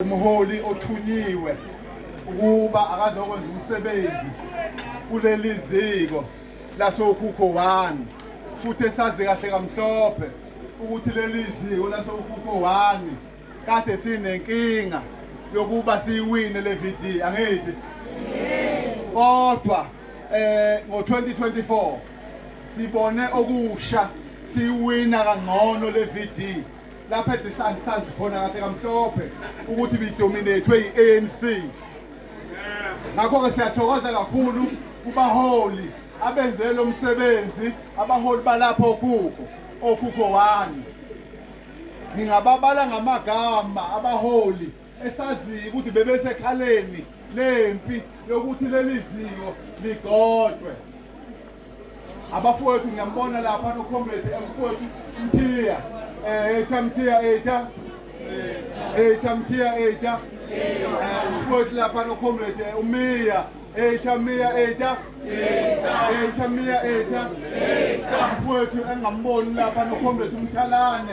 Umholi othunyiwe ukuba akazokwenza umsebenzi kuleli ziko lasokhukho 1 futhi esazi kahle kamhlophe ukuthi leli ziko lasokhukho 1 kade sinenkinga yokuba siyiwine le VD angithi kodwa eh ngo-2024 sibone okusha siwina kangcono le VD lapha ebhisani sazi khona kahle kamhlophe ukuthi bidominethwe yi-anc ngakho-ke siyathokoza kakhulu kubaholi abenze lo msebenzi abaholi balapha okhukho okhukho wani ngingababala ngamagama abaholi esaziyo ukuthi bebesekhaleni lempi yokuthi leli ziko ligotshwe abafowethu ngiyambona lapha nokhomredi emfowethu mthiya um etha mthiya etha etha mthiya etha mfowethu lapha nokhomredi eh, umiya etha miya etha etha miya etha mfowethu engamboni lapha nokhomredi umthalane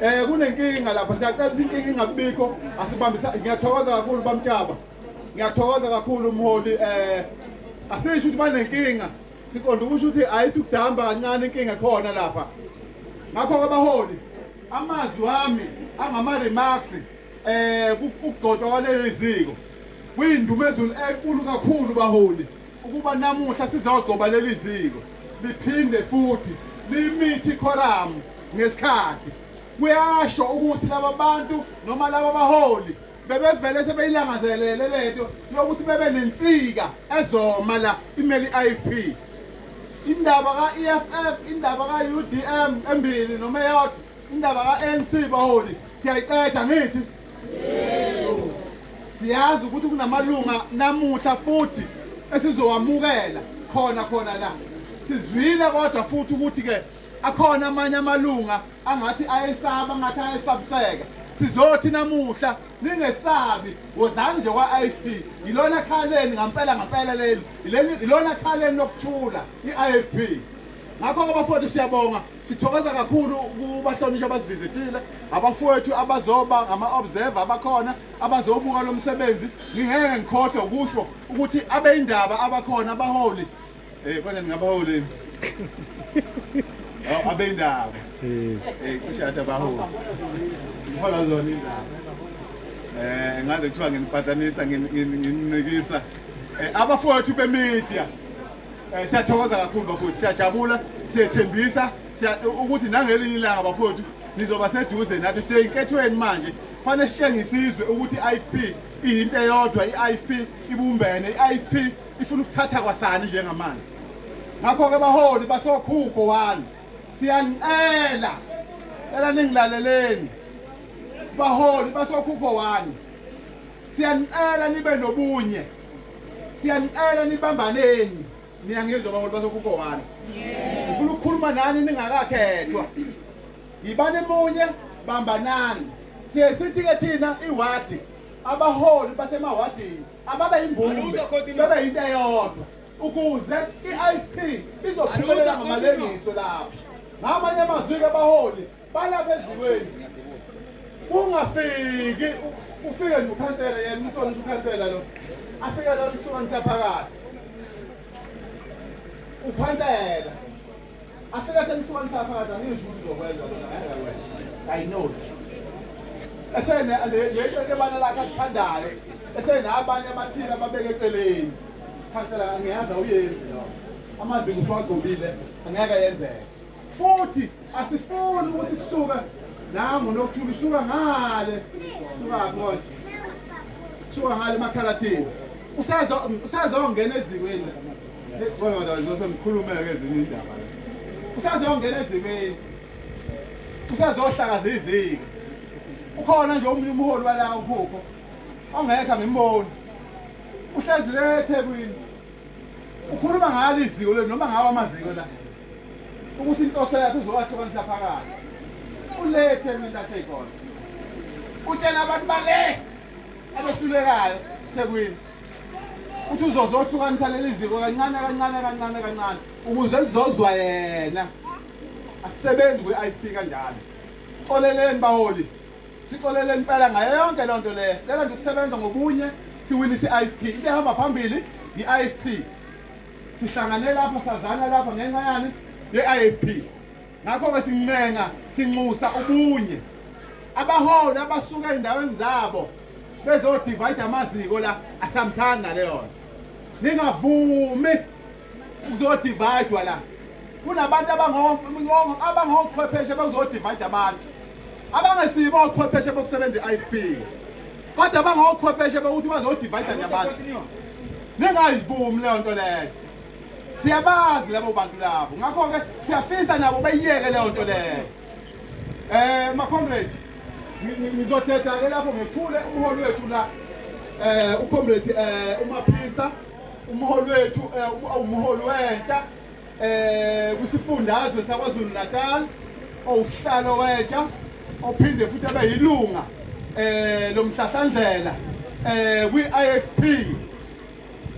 Eh kunenkinga lapha siyacela ukuthi inkinga ingabikho asibambisa ngiyathokoza kakhulu bamtshaba. Ngiyathokoza kakhulu umholi eh asisho ukuthi banenkinga siqonda ukusho ukuthi ayithi ukudamba kancane inkinga khona lapha. Ngakho ke baholi amazwi wami angama remarks eh ukugcotshwa kwaleli ziko kuyindumezulu enkulu kakhulu baholi ukuba namuhla sizogcoba leli ziko liphinde futhi limithi ikhoramu ngesikhathi kuyasho ukuthi laba bantu noma laba baholi bebevele sebeyilangazelele lento yokuthi bebe nensika ezoma la imeli IFP indaba ka-EFF indaba ka-UDM embili noma eyodwa indaba ka-ANC baholi siyayiqeda ngithi siyazi ukuthi kunamalunga namuhla futhi esizowamukela khona khona la sizwile kodwa futhi ukuthi-ke akhona amanye amalunga angathi ayesaba ngathi ayesabiseka sizothi namuhla ningesabi wozani nje kwa-ifp yilona khaleni ngampela ngampela leli yilona khaleni lokuthula i-ifp ngakho-ke bafowethu siyabonga Sithokoza kakhulu kubahlonishwa abasivizithile, abafowethu abazoba ngama-observer abakhona abazobuka lo msebenzi. Ngingeke ngikhohlwe ukusho ukuthi abeyindaba abakhona abaholi um eh, kodwa ningabaholi oh, abeyindaba um eh. kushathi eh, abaholi ihola zona indaba um ngaze kuthiwa nginipatanisa ngininikisa abafowethu bemedia Eh, siyathokoza kakhulu bafowethu siyajabula siyethembisa ukuthi nangelinye ilanga bafowethu nizoba seduze nathi siyeyinkethweni manje fanele sitshengisizwe ukuthi i-ifp iyinto eyodwa i-ifp ibumbene i-ifp ifuna ukuthatha kwasani njengamanje ngakho-ke baholi basokhukho wani siyanicela cela ningilaleleni baholi basokhukho wani siyanicela nibe nobunye siyanicela nibambaneni niyangizwa baholi basokukowana ngifuna ukukhuluma nani ningakakhethwa yibani munye bambanani siye sithi-ke thina iwadi abaholi basemawadini ababe yimbumbe bebe yinto eyodwa ukuze i-ifp izophumelela ngamalengiso lapho ngamanye amazwi-ke abaholi balapha ezulweni kungafiki ufike nje ukhansela yena umsona nje ukhansela lo afike lo msona saphakathi ukhansela afike semsona saphakathi angisho ukuthi uzokwenza lona ngeke i know esene lento ebana lakhe akuthandayo esene abanye abathile ababeke eceleni khansela ngiyazi awuyenzi lo amazinga usiwagobile angeke yenzeke futhi asifuni ukuthi kusuke nangu nokuthula usuka ngale sukaphi konje suka ngale emakhalathini usazongena ezimeni kodwa ngizose ngikhulumeke ezinye indaba la usazongena ezimeni usazohlakaza iziko ukhona nje omunye umholi wala uphupho ongekho angimboni uhlezi le ethekwini ukhuluma ngalo iziko le noma ngawo amaziko la ukuthi inhloso yakhe uzowahlukanisa phakathi ulethe mina athekhona utshena abantu bale abehlulekayo thekwini uthi uzozohlukanisa leli ziko kancane kancane kancane kancane ukuze lizozwa yena asisebenzi kwi-ip kanjalo xoleleni baholi sixolele impela ngayo yonke loo nto leyo lelo nto ukusebenza ngobunye siwinisa i-ifp ibehamba phambili yi-ifp Sihlangane lapha sazana lapha ngenxa yani ye-IFP. Ngakho-ke sincenga sinxusa ubunye. Abaholi abasuka ezindaweni zabo bezodivide amaziko la asihambisani naleyo nto. Ningavumi ukuzodividwa la. Kunabantu abangochwepheshe bezodivide abantu. abangesibo ochwepheshe bokusebenza i-IFP kodwa bangochwepheshe bokuthi bazodivayida nje abantu ningayivumi leyo nto leyo siyabazi labo bantu labo ngakho-ke siyafisa nabo bayiyeke leyo nto leyo um eh, macomrade ngizodeda-ke lapho ngethule umholi wethu la um ucomrade um umaphisa umholi wethu um umholi wentsha eh kwisifundazwe saKwaZulu Natal owuhlalo wetsha ophinde futhi abe yilunga eh lomhlahlandlela eh kwi-IFP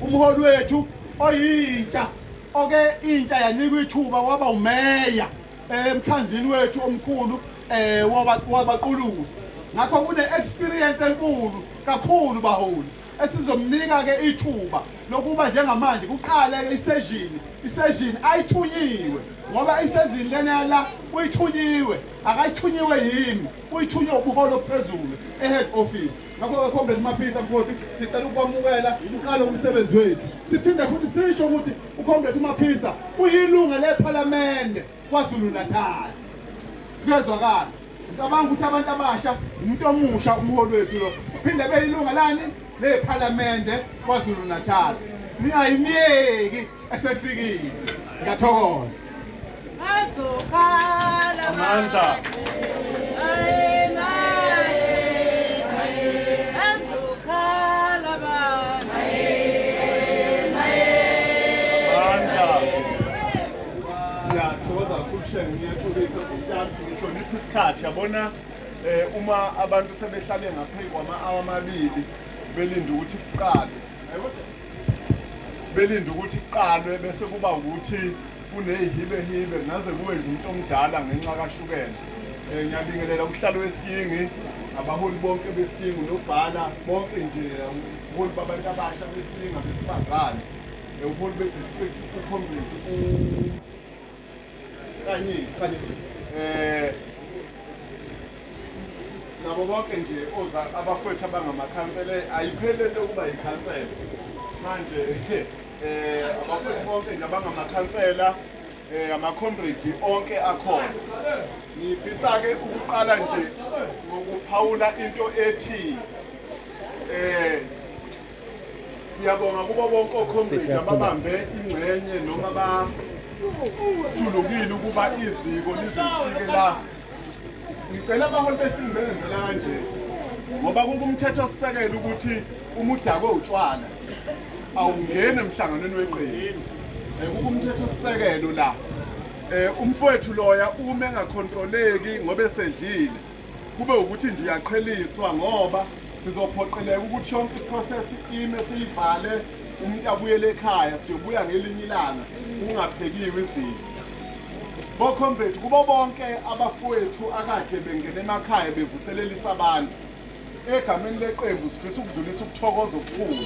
umholi wethu oyintsha oke intsha yanikwa ithuba waba umeya eh, emkhandlini wethu omkhulu eh wabaquluzi ngakho kune experience enkulu kakhulu baholi esizomnika ke ithuba lokuba njengamanje kuqale ke iseshini iseshini ayithunyiwe ngoba isezini lena yala uyithunyiwe akayithunyiwe yimi uyithunywe ubuholo obuphezulu e-head office ngakho-ke comrade maphisa mfoti sicela ukwamukela uqale umsebenzi wethu siphinde futhi sisho ukuthi ucomrade umaphisa uyilunga lephalamende kwazulu-natal kuyezwakala Ngicabanga ukuthi abantu abasha umuntu omusha umholi wethu lo phinde beyilunga lani lephalamende kwaZulu Natal ningayimyeki esefikile ngiyathokoza azokhala amandla Siyathokoza kakhulu shenge ngiyaxolisa Ngihlonipha isikhathi yabona eh uma abantu sebehlale ngaphezu kwama-awa amabili belinde ukuthi kuqale belinde ukuthi kuqalwe bese kuba ukuthi kuneyihibehibe naze kube nje umuntu omdala ngenxa kashukela um ngiyabingelela uhlalo wesingi abaholi bonke besingu nobhala bonke nje ubuholi babantu abasha besinga besifazane ubuholi bedistrict ukhombisi kanye iqaliswe eh nabo bonke nje oza abafowethu abangamakhansela ayiphele into yokuba yikhansela manje eh abafowethu bonke nje abangamakhansela eh amacomrade onke akhona ngifisa ke ukuqala nje ngokuphawula into ethi eh Siyabonga kubo bonke okhomredi ababambe ingxenye noma bathulukile ukuba iziko lizofike la. Ngicela abaholi besintu benzela kanje ngoba kukumthetho osisekelo ukuthi uma udakwe utshwala awungeni emhlanganweni weqembu. Eh, kukumthetho osisekelo la. Eh, umfowethu loya uma engakhontroleki ngoba esedlile Kube ukuthi nje uyaqheliswa ngoba sizophoqeleka ukuthi yonke iprocess ime siyivale umuntu abuyele ekhaya siyobuya ngelinye ilanga kungaphekiwe izinto bokhombethi kubo bonke abafowethu akade bengena emakhaya bevuselelisa abantu egameni leqembu sifisa ukudlulisa ukuthokoza okukhulu